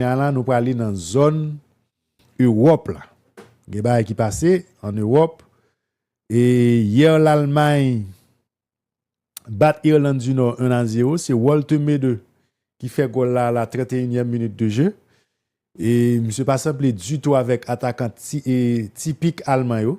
Kounya la nou prale nan zòn Ewòp la. Gen bagay ki pase an Ewòp. E yè Lalmay bat Irland di Nò 1 a 0. Se Walter Meede ki fè gòl la a la 31 nyèm minit de je. E misye pa sanble ditou avèk atakan tipik Alman yo.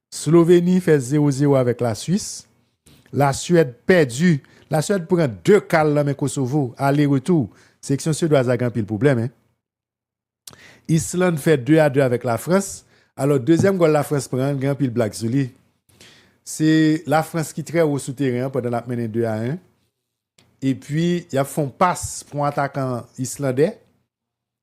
Sloveni fè 0 0 avèk la Swis. La Swèd pèdi. La Swèd pran 2 kal lan men Kosovo. Ale retou. Seleksyon Swedwaz la gen anpil pwoblèm hein. Island fè 2 a 2 avèk la Frans. Alò dezyèm gòl la Frans pran an gen anpil blag sou li. Se la Frans ki trè wo sou teren an pandan lap mennen 2 a 1. Epi yap fè yon pas pou yon atakan Islandè.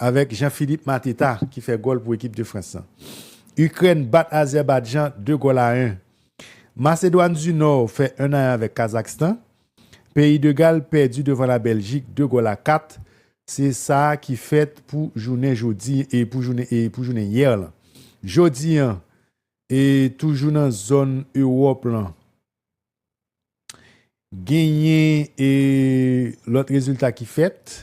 Avèk Jean Philippe Mateta ki fè gòl pou ekip de Frans lan. Ikrèn bat Azèbadjan 2 gòl a 1. Masedwàn di Nò fè 1 a 1 avèk Kazakstan. Peyi de Gal pèdi devan la Bèljik 2 gòl a 4. Se sa ki fèt pou jounen jodi e pou jounen e pou jounen yè lan. Jodi an e toujou nan zòn Ewòp lan genyen e lòt rezilta ki fèt.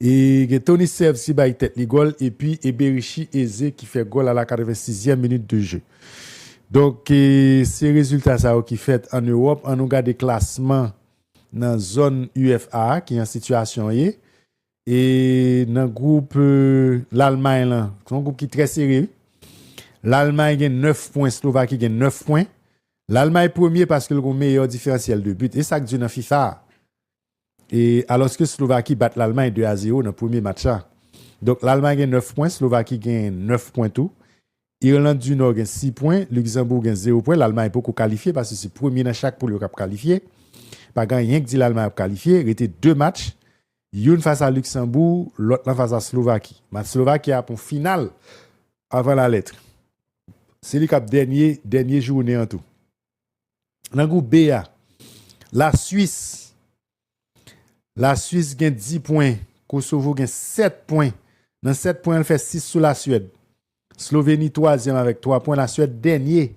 E gen Tony Serve si bay tèt li gòl epi Eberichi Eze ki fè gòl a la 86 zièm minit de jeu. Donk se rezilta sa yo ki fèt an Ewòp an nou gade klasman nan zòn UEFA a ki an sitiyasyon ye e nan gwoup Lalmay lan se yon gwoup ki trè sere wi. Lalmay gen 9 pwen Slovaki gen 9 pwen. Lalmay premye paske l gon meyè diferansyèl de but e sak di nan fifa a. e alòske Slovaki bat Lalmay 2 a 0 nan premye match la. Donk Lalmay gen 9 pwen, Slovaki gen 9 pwen tou. Irland di Nò gen 6 pwen, Luksanbourg gen 0 pwen. Lalmay poko kalifye paske se premye nan chak poul yo k ap kalifye. Pa gen anyen k di Lalmay ap kalifye. Rete 2 match, youn fas a Luksanbourg, lòt lan fas a Slovaki. Match Slovaki a ap yon final avan lalèt. Se li k ap dènye dènye jounen an tou. Nan gwoup B a, La Swis La Swis gen 10 pwen, Kosovo gen 7 pwen. Nan 7 pwen an, l fè 6 sou La Swèd. Sloveni twazyèm avèk 3 pwen, La Swèd dènye.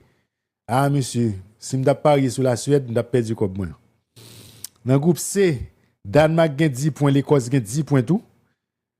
A mesye, si m t ap parye sou La Swèd, m t ap pèdi kòb mwen. Nan gwoup C, Dànmak gen 10 pwen, Lekòs gen 10 pwen tou.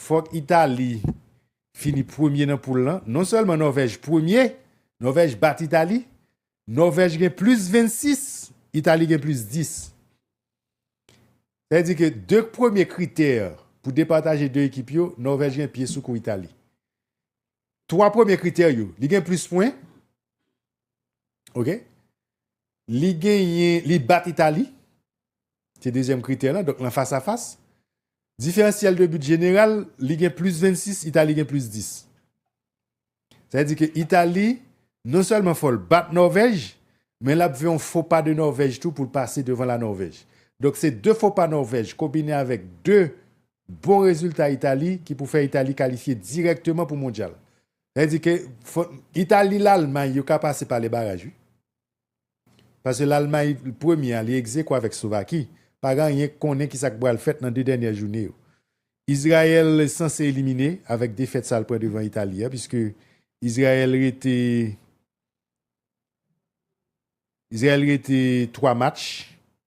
Fòk Itali fini premye nan poul lan. Non sèlman Nòvèj premye, Nòvèj bat Itali. Nòvèj gen plis 26, Itali gen plis 10. Sa vle di ke 2 premye kritè pou depataje 2 ekip yo, Nòvèj gen pye sou kou Itali. 3 premye kritè yo li gen plis pwen ok li genyen li bat Italie se dezyèm kritè la donk nan fas a fas diferansyèl de but jeneral li gen plis 26 Italie gen plis 10 sa vle di ke Italie non sèlman fòl bat Norvèj men lap fè yon fo pa de Norvèj tou poul pase devan la Norvèj donk se 2 fo pa Norvèj konbine avèk 2 bon rezilta Itali ki pou fè Itali kalifye dirèkteman pou Mondyal. Sa vle di ke fò Itali, Lalmay yo ka pase pa lebaraj wi. Pase Lalmay premye a li egzekwo avèk Slovaki, pa gen anyen k konnen kisa k pral fèt nan 2 dènyè joune yo. Izrayèl sanse elimine avèk defèt sa l pran devan Itali a piske Izrayèl rete Izrayèl rete 3 match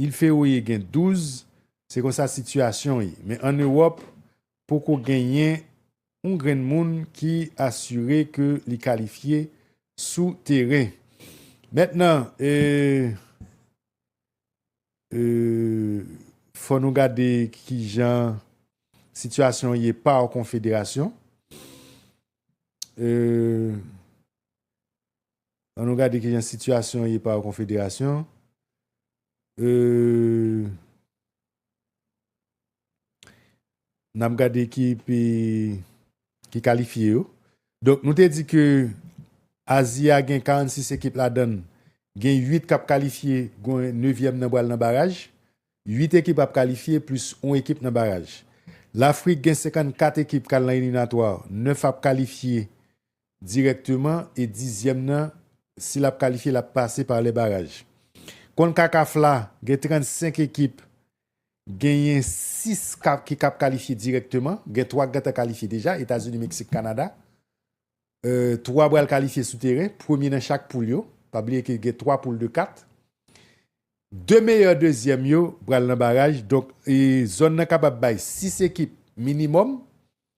Île Féroé gen 12, se konsa sitiyasyon ye. Men an Ewòp, poko genyen yon grenn moun ki asire ke li kalifye sou teren. Mèt nan, eeh, eeh, fò nou gade kijan sitiyasyon ye par konfederasyon, eeh. An nou gade kijan sitiyasyon ye pa konfederasyon. N ap gade ekip ki kalifye yo. Donk nou te di ke Azi a gen 46 ekip ladann. Gen 8 k ap kalifye, gon nevyèm nan pral nan baraj. 8 ekip ap kalifye plis on ekip nan baraj. Lafrik gen 54 ekip k al nan eliminatwa, 9 ap kalifye Dirèkteman e dizyèm nan si l ap kalifye l ap pase pa lè baraj. Concacaf la gen 35 ekip genyen 6 ki kap kalifye dirèkteman gen 3 k gentan kalifye deja Etazini Meksik Kanada 3 pral kalifye sou teren premye nan chak poul yo pa bliye ke gen 3 poul de 4 2 meyè dezyèm yo pral nan baraj donk zòn nan kapab bay 6 ekip minimòm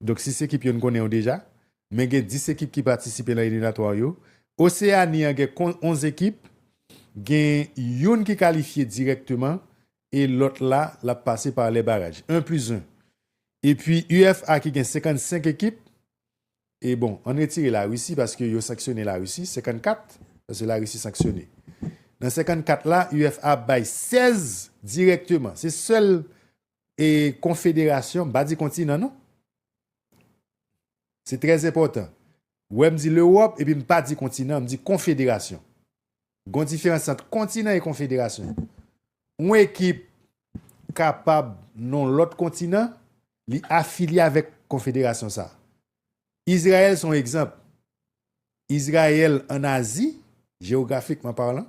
Donk 6 ekip yo n konnen yo deja, men gen 10 ekip ki patisipe lan eliminatwa yo. Oseani an gen 11 ekip, gen youn ki kalifye dirèkteman e lòt la l ap pase pa lè baraj, 1 plis 1. Epi UFA ki gen 55 ekip, e bon ann retire Larisi paske yo sanksyone Larisi, 54, paske Larisi sanksyone. Nan 54 la UFA bay 16 dirèkteman, se sèl E konfederasyon, m pa di kontinan non. Se trè enpòtan. Ou wè m di Lewòp epi m pa di kontinan, m di konfederasyon. Gon diferans ant kontinan e konfederasyon. Yon ekip kapab nan yon lòt kontinan, li afilye avèk konfederasyon sa a. Izrayèl se yon egzanp. Izrayèl ann Azi, jewografikman palan,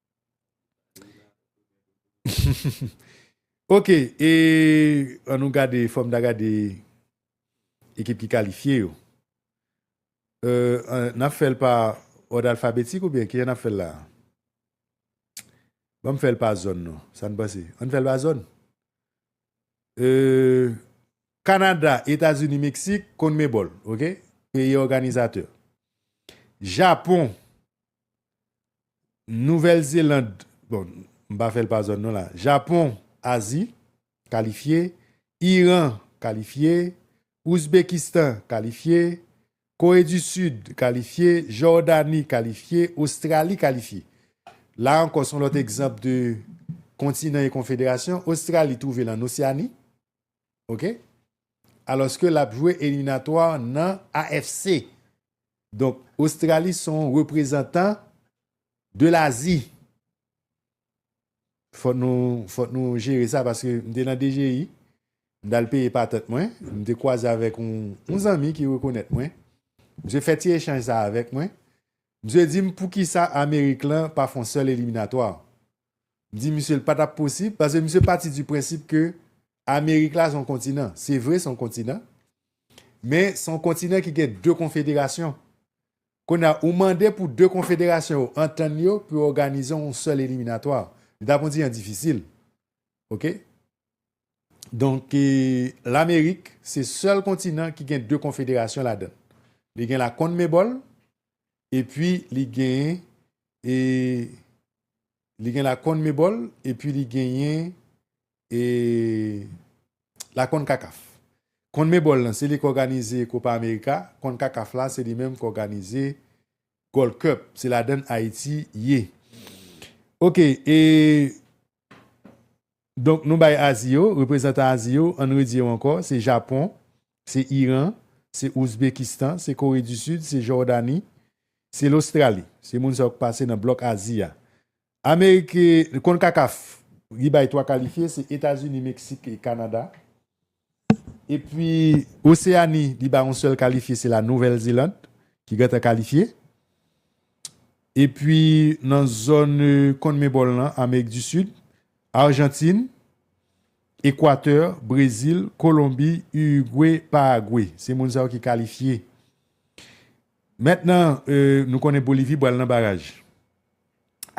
Ok e an nou gade fòm da gade ekip ki kalifye yo euh nap fèl pa òd alfabetik oubyen kijan nap fèl la banm fèl pa zòn non sann panse ann fèl pa zòn euh kanada etazini meksik konn men bòl ok peyi òganizatè japon Nouvèl Zeland, bon, m pa fè l pa zòn non la, Japon, Azi, kalifye, Iran, kalifye, Ouzbekistan, kalifye, Kore di Sid, kalifye, Jòdani, kalifye, Ostrali, kalifye. La ankò s on lòt egzanp de kontinan e konfederasyon, Ostrali twouve l ann Osyani, ok alòske lap jwe eliminatwa nan AFC donk Ostrali son reprezantan de lazi fòk nou fòk nou jere sa paske m te nan DGI m tal peye patant mwen m te kwaze avèk yon zanmi ki rekonèt mwen misye fè ti echanj sa avèk mwen misye dim poukisa amerik lan pa fon sèl eliminatwa. di misye l pa tap posib paske misye pati di prensip ke Amerik la se yon kontinan. Se vre se yon kontinan, men se yon kontinan ki gen 2 konfederasyon. Kounye a, ou mande pou 2 konfederasyon yo antann yo pou yo òganize yon sèl eliminatwa. Li tap kontinan difisil. Ok. Donk, Lamerik se sèl kontinan ki gen 2 konfederasyon ladan l. Li gen la Konmebòl epi li gen e li gen la Conmebol epi li genyen e la Concacaf Conmebol lan se li k òganize Copa America Concacaf la se li menm k òganize Gold Cup se ladann Ayiti ye ok e Donk nou bay Azi yo, reprezantan Azi yo, ann redi yo ankò, se Japon, se Iran, se Ouzbekistan, se Kore di Sid, se Jòdani, se Lostrali. Se moun sa yo k pase nan blòk Azi a. Amerik, Konkakaf, li bay 3 kalifye, se Etazini, Meksik e Kanada. Epi Oseani li bay yon sèl kalifye se la Nouvèl Zeland ki gentan kalifye. Epi nan zòn Conmebol lan Amerik di Sid, Arjantin, Ekwatè, Brezil, Kolonbi, Urugwe, Paragwe. Se moun sa yo ki kalifye. Mentnan nou konnen Bolivi pral nan baraj.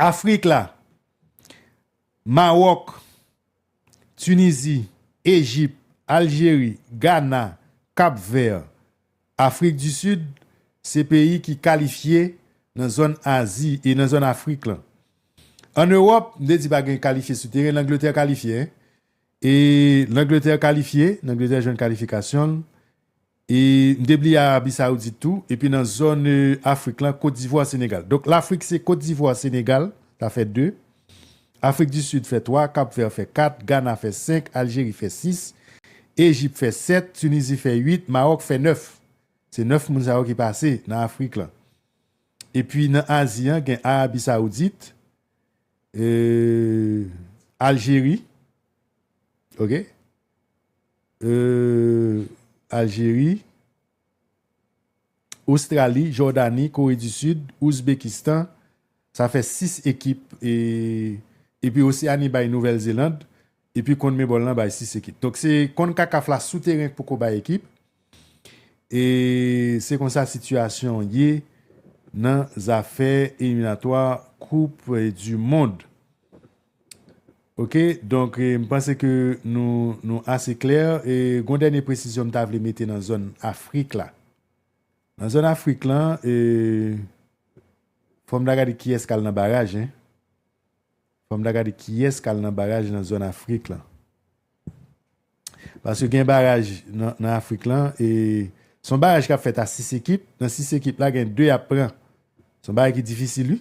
Afrik la, Mawòk. Tunizi, Ejip, Aljeri, Gana, Kap Vè, Afrik di Sid se peyi ki kalifye nan zòn Azi e nan zòn Afrik lan. An Ewòp, m te di pa gen kalifye sou teren, Langletè kalifye. E Langletè kalifye, Langletè jwenn kalifikasyon l. E m te bliye Arabi Saoudit tou. Epi nan zòn Afrik lan, Kotdivwa, Senegal. Donk Lafrik se Kotdivwa, Senegal, sa fè 2. Afrik di Sid fè 3, Kap Vè fè 4, Gana fè 5, Aljeri fè 6, Ejip fè 7, Tunizi fè 8, Mawòk fè 9. Se 9 moun sa yo ki pase nan Afrik lan. Epi nan Azi an gen Arabi Saoudit, Aljeri, ok, Aljeri, Ostrali, Jòdani, Kore di Sid, Ouzbekistan, sa fè 6 ekip epi Oseani bay Nouvèl Zeland epi Conmebol lan bay 6 ekip. Donk se Concacaf la sou teren k poko bay ekip e se konsa sitiyasyon ye nan zafè eliminatwa koup du mond. Ok donk m panse ke nou nou ase klè e gon dènye presizyon m ta vle mete nan zòn afrik la nan zòn afrik lan e fòm ta gade kiyès kal nan baraj hein fòm ta gade kiyès kal nan baraj nan zòn afrik lan paske gen baraj nan afrik lan e son baraj kap fèt a 6 ekip nan 6 ekip la gen 2 yap pran son bagay ki difisil wi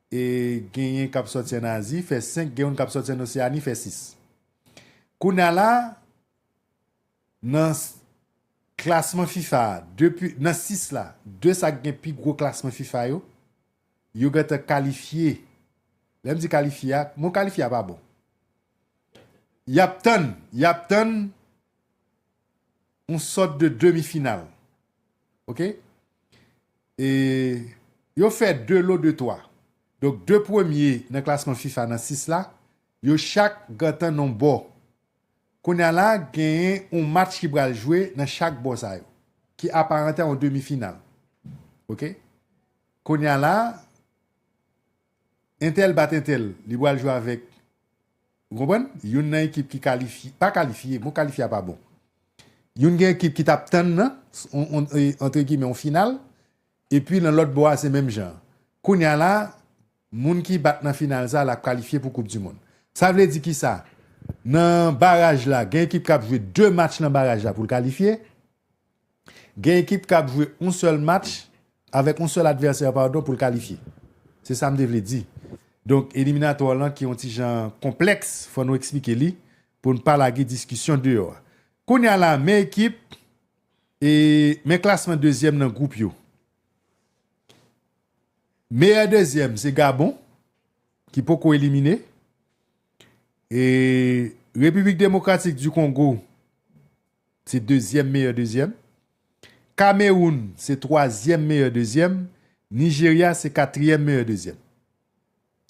E genyen kap sòti an Azi fè 5 gen youn kap sòti an Oseani fè 6. Kounya la nan klasman fifa a depi nan 6 la 2 sak gen pi gwo klasman fifa yo yo gentan kalifye lèm di kalifye a mo kalifye a pa bon yap tann yap tann yon sòt de demi final ok e yo fè 2 lo de 3 donk 2 premye nan klasman fifa nan 6 la yo chak gantan nan yon bò kounya la genyen yon match ki pral jwe nan chak bò sa yo ki aparante a yon demi final ok kounya la. Entèl bat entèl, li pral jwe avèk, ou konprann, youn nan ekip ki kalifye, pa kalifye, mo kalifye a pa bon. Youn gen ekip ki t ap tann nan, antre gimè, yon final, epi nan lòt bò a se menm jan. Kounye a la, moun ki bat nan final sa a l ap kalifye pou koupdimonn. Sa vle di ki sa? Nan baraj la, gen ekip k ap jwe de match nan baraj la pou l kalifye, Gen ekip k ap jwe yon sèl match avèk yon sèl advèsè padon pou l kalifye. Se sa m te vle di. Donk eliminatwa lan ki yon ti jan konplèks fò nou eksplike li pou n pa lage diskisyon deyò a. Kounya la men ekip e men klasman dezyèm nan gwoup yo. Meyè dezyèm se Gabon ki poko elimine e Repiblik Demokratik di Kongo. se dezyèm meyè dezyèm, Kamewoun se twazyèm meyè dezyèm, Nijerya se katriyèm meyè dezyèm.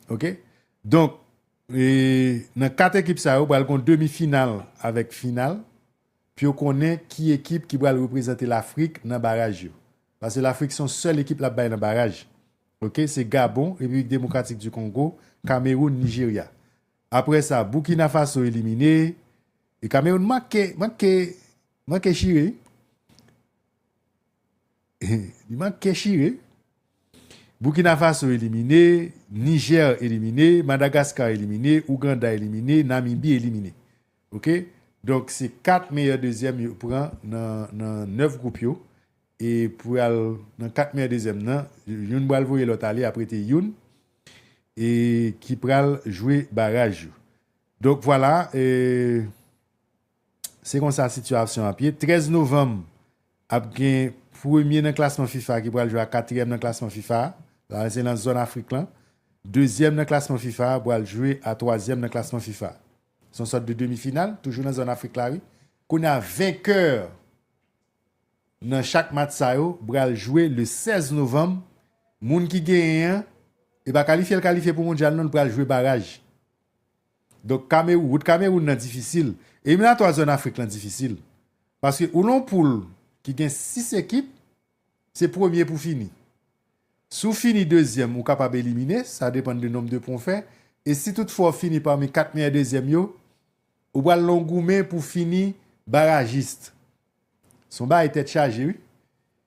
Ok donk nan 4 ekip sa yo pral gon demi final avèk final pou yo konnen ki ekip ki pral reprezante Lafrik nan baraj yo. Pase Lafrik se yon sèl ekip lap bay nan baraj. Ok se Gabon, Repiblik Demokratik di Kongo, Kamewoun, Nijerya. Aprè sa Burkina Faso elimine e Cameroun manke manke manke chire li manke chire Burkina Faso elimine Niger elimine Madagascar elimine Ouganda elimine Namibie elimine ok donk se 4 meyè dezyèm yo pran nan nan 9 gwoup yo e pou yal nan 4 meyè dezyèm nan youn bal voye lòt ale aprete youn e ki pral jwe baraj yo donk vwala e se konsa sitiyasyon ap ye 13 novanm ap gen premye nan klasman fifa ki pral jwe ak katriyèm nan klasman fifa la se nan zòn afrik lan dezyèm nan klasman fifa pral jwe a twazyèm nan klasman fifa son sòt de demi final toujou nan zòn afrik la wi kounya venkè Nan chak match sa yo bral jwe le 16 novanm, moun ki genyen an, e pa kalifye l kalifye pou mondyal non, l pral jwe baraj. Donk Kamerou, wout Kameroun nan difisil. Eliminatwa zòn Afrik lan difisil. Paske ou lan poul ki gen 6 ekip, se premye pou fini. Si w fini dezyèm ou kapab elimine, sa depann de nonb de pwen w fè, e si tout fwa w fini pami 4 meyè dezyèm yo, Ou pral non goumen pou fini barajist. Son bagay tèt chaje wi.